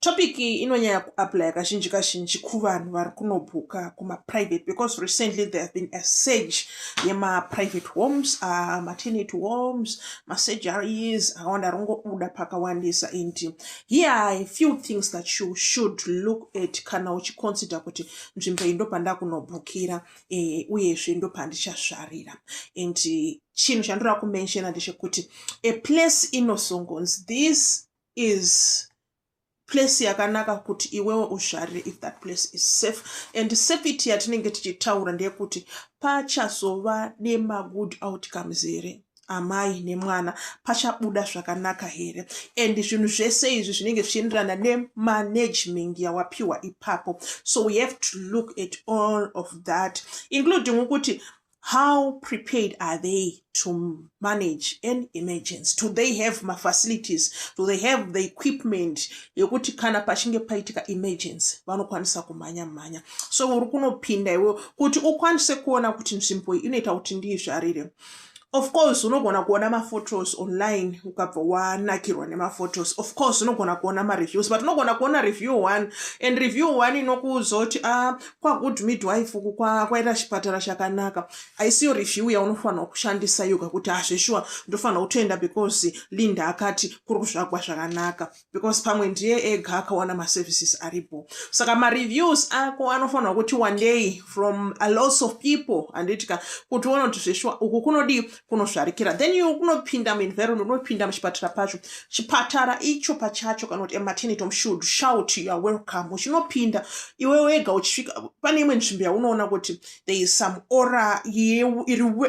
Topic iyi inonyanya kuaplya kazhinji kazhinji kuvanhu vari kunobhuka kumaprivate because recently there have been a surge yemaprivate homes uh, matenant homes masurgeries akawanda ari kungobuda pakawandisa and here are a few things that you should look at kana uchiconsider kuti nzvimbo iyi ndopanda kunobhukira eh, uyezve ndopandichasvarira and chinhu chandinoda kumenshena ndechekuti a place inosongonzi this is place yakanaka kuti iwewe uzvarire if that place is safe and safety yatinenge tichitaura ndeyekuti pachazova nemagood outcomes here amai nemwana pachabuda zvakanaka here and zvinhu zvese izvi zvinenge zvichienderana nemanagement yawapiwa ipapo so we have to look at all of that including ukuti how prepared are they to manage an emergency do they have mafacilities do they have the equipment yekuti kana pachinge paitika emergency vanokwanisa kumhanya mhanya so uri kunopinda iwe kuti ukwanise kuona kuti nzvimbo iyi inoita kuti ndiizvarire of course unogona kuona maphotos online ukabva wanakirwa nemaphotos of course unogona kuona mareviews but unogona kuona review one and review one inokuudza kuti a ah, kwagood midwife uku kwaita chipatara chakanaka aisiyo review yaunofanirwa kushandisa yoga kuti hazveshuwa ah, ndofanirwa kutoenda because linda akati kuri kuzvagwa zvakanaka because pamwe ndiye ega akawana maservices aripo saka mareviews ako anofanirwa kuti one day from a lots of people handiti ka kuti uona kuti zveshuwa uku kunodii kunozvarikira then you unopinda muenvironment unopinda muchipatara pacho chipatara icho pachacho kana kuti ematenity should shout you are welcome uchinopinda iwe wega uchisvika pane imwe nzvimbo yaunoona kuti there is some ora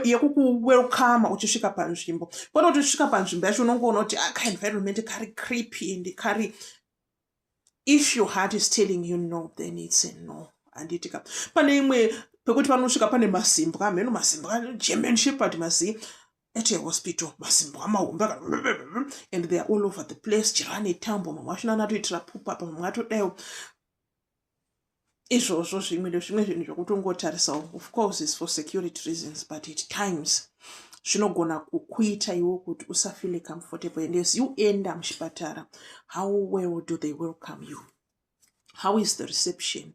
yekukuwelcome uchisvika panzvimbo kwete kuti uchisvika panzvimbo yacho unongoona kuti akaenvironment ah, kari creepy and kari if your heart is telling you no then it's a no handiti ka pane imwe pekuti panosvika pane masimbwa mheno masimbwa german shepherd mazii at a hospital masimbwa mahombe and they are all over the place chero ane tambo mamwe achona anatoitira pupa apa mamwe atodaiwo izvozvo zvimwe nezvimwe zvinhu zvokutongotarisao of course is for security reasons but at times zvinogona kukuita iwo kuti usafile comfortable and as you enda muchipatara how well do they welcome you how is the reception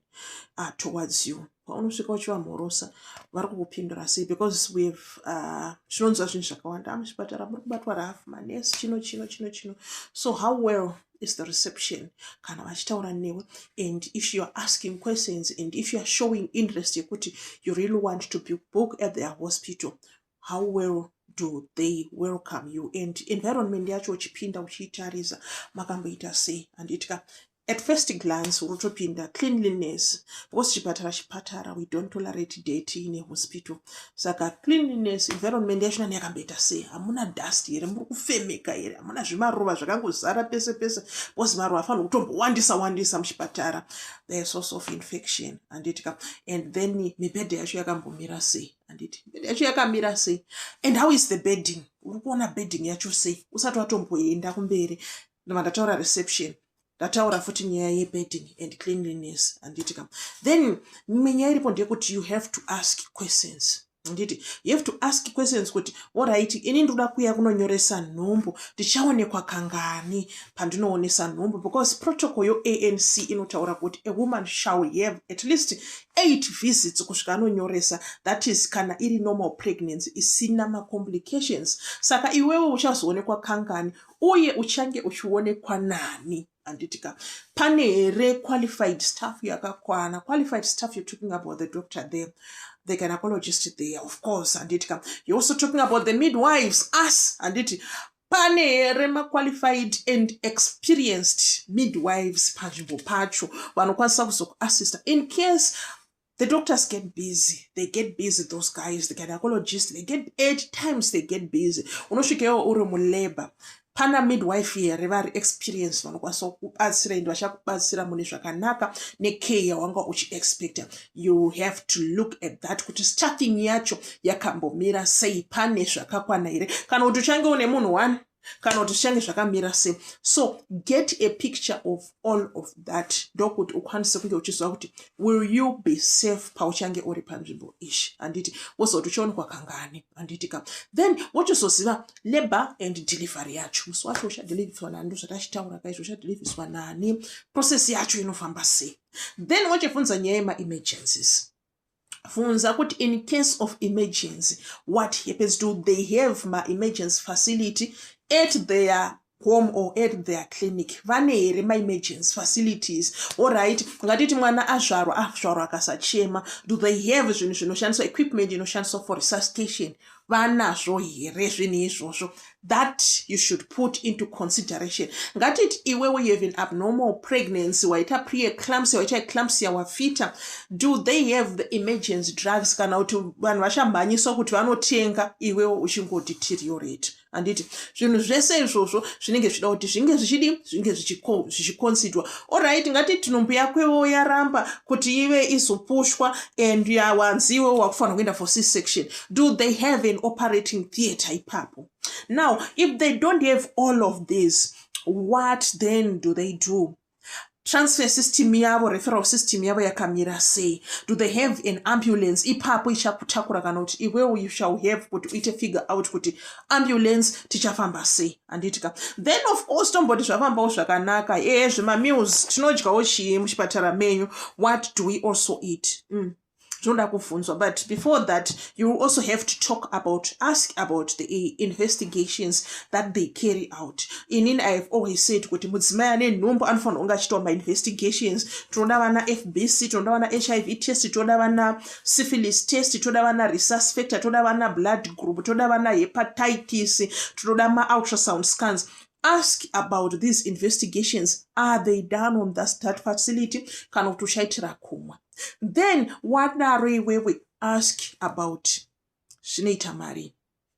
uh, towards you paunosvika uchivamhorosa vari kukupindura sei because weve uh, tinonzwa zvinhu zvakawanda amuchipatara ah, muri kubatwa rahafu manesi chino chino chino chino so how well is the reception kana vachitaura newe and if youare asking questions and if youare showing interest yekuti you really want to be book at their hospital how well do they welcome you and environment yacho uchipinda uchiitarisa makamboita sei handitika at first glance urotopinda cleanliness because chipatara chipatara we don't tolerate date in a hospital saka cleanliness environment yacho nani yakamboita sei hamuna dust here muri kufemeka here hamuna zvimaruva zvakangozara pese pese bcause maruva afanira kutombowandisa wandisa muchipatara the source of infection handiti ka and then mibhedha yacho yakambomira sei handiti mibhedha yacho yakamira sei and how is the bedding uri kuona bedding yacho sei usati watomboenda kumberi ndovandataura reception ndataura futi nyaya yebedding and cleanliness handiti kam then mimwe nyaya iripo ndeyekuti you have to ask questions handiti you have to ask questions kuti orit ini ndoda kuya kunonyoresa nhumbu ndichaonekwa kangani pandinoonesa nhumbu because protocol yoanc inotaura kuti a woman shall have at least eight visits kusvika anonyoresa that is kana iri normal pregnancy isina macomplications saka iwewo uchazoonekwa kangani uye uchange uchionekwa nani handiti ka pane here qualified staff yakakwana qualified staff you're talking about the doctor there the gynecologist there of course handiti ka you're also talking about the midwives us handiti pane here maqualified and experienced midwives panzvimbo pacho vanokwanisa kuzokuassista in case The doctors get busy. They get busy, those guys, the gynecologists, they get eight times they get busy. Unosvikewo uri mulabor. Pana midwife here vari experience vanokwanisa kubatsira ende vachakubatsira mune zvakanaka necare yawanga uchiexpecta. You have to look at that kuti staffing yacho yakambomira sei pane zvakakwana here kana kuti uchange une munhu one kana kuti zvichange zvakamira se so get a picture of all of that ndokuti ukwanise kunge uchiziva kuti will you be safe pauchange uri panzvimbo ishi handiti wozoti uchionekwa kangani handiti ka then wochizoziva labor and delivery yacho musi wacho uchadeliviswa nani ndozvatachitaura kaizvo uchadeliviswa nani process yacho inofamba sei then wochibvunza nyaya yemaemergencies funza kuti in case of emergency what happens do they have maemergency facility at their home or at their clinic vane here maemergency facilities orit ngatiti mwana azvarwa azvarwa akasachema do they have zvinhu zvinoshandiswa equipment inoshandiswa for resuscitation vanazvo here zvinhu izvozvo that you should put into consideration ngatiti iwewe you have an abnormal pregnancy waita preeclampsia waita eclampsia wafita do they have the emergency drugs kana kuti vanhu vashamhanyiswa kuti vanotenga iwewe uchingodeteriorate handiti zvinhu zvese izvozvo zvinenge zvichida kuti zvinge zvichidi zvinge zvichikonsidwa Alright, ngati tinhumbu yakwewo yaramba kuti ive izopushwa and yawanziwe wakufanira kuenda for C section. Do they have an operating theatre ipapo? Now, if they don't have all of these, what then do they do? transfer system yavo referral system yavo yakamira sei do they have an ambulance ipapo ichakutakura kana kuti iwewo you shall have kuti uite figure out kuti ambulance tichafamba sei handiti ka then of course tomboti zvafambawo zvakanaka ee zvemameals tinodyawo chii muchipatara menyu what do we also eat mm. zvinoda kubvunzwa but before that you will also have to talk about ask about the eh, investigations that they carry out inin i have always said kuti mudzimai ane nhumbu anofanira kunge achitawo mainvestigations tinoda vana fbc tinoda vana hiv test tinoda vana syphilis test toda vana resus factor toda vana blood group toda vana hepatitis tinoda maultrasound scans ask about these investigations are they done on thus that facility kana kuti uchaitira kumwa then wadaro iwewe ask about zvinoita mari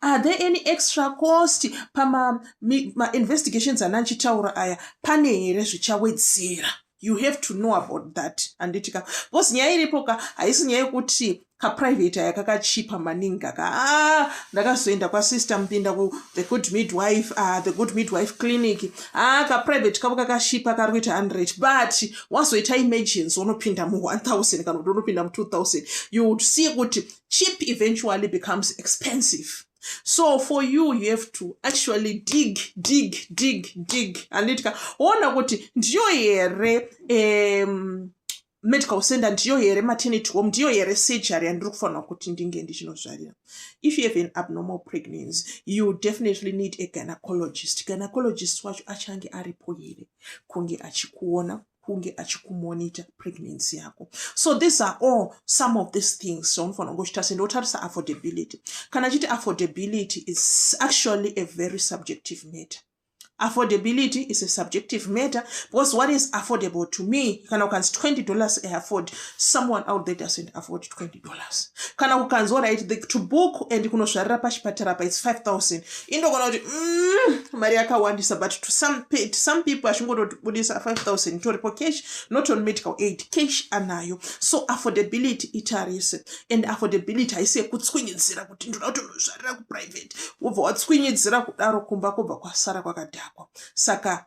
are there any extra cost pamainvestigations ana achitaura aya pane here zvichawedzera you have to know about that handiti ka bcause nyaya iripo ka haisi nyaya yekuti kaprivate aya kakachipa maningi aka ah, ndakazoenda kwasister mupinda ku the good midwife ah, the good midwife clinic ah, kaprivate kavo kakashipa kari kuita hundred but wazoita emergency unopinda mu 1000 kana kuti unopinda mu 2000 you would see kuti cheap eventually becomes expensive so for you you have to actually dig dig dig dig anditika woona kuti ndiyo here um, medical center ndiyo here maternity home ndiyo here surgery yandiri kufanira kuti ndinge ndichinozvarira if you have an abnormal pregnancy you definitely need a gynecologist gynecologist wacho achange aripo here kunge achikuona kunge achikumonitor pregnancy yako so these are all some of these things zvaunofanira kunge uchitarisa ende wotarisa affordability kana chiti affordability is actually a very subjective matter affordability is a subjective matter because what is affordable to me kana ukanzi 20 dollars i afford someone out there doesn't afford 20 dollars kana kukanzwa right the, to book and kunozvarira pachipatara pa its 5000 indogona kuti mm, mari yakawandisa but to some, to some people achingotobudisa 5000 itoripo cash not on medical aid cash anayo so affordability itarise and affordability haisi yekutswinyidzira kuti ndoda kuti unozvarira kuprivate wobva watswinyidzira kudaro kumba kwobva kwasara kwakadhakwa saka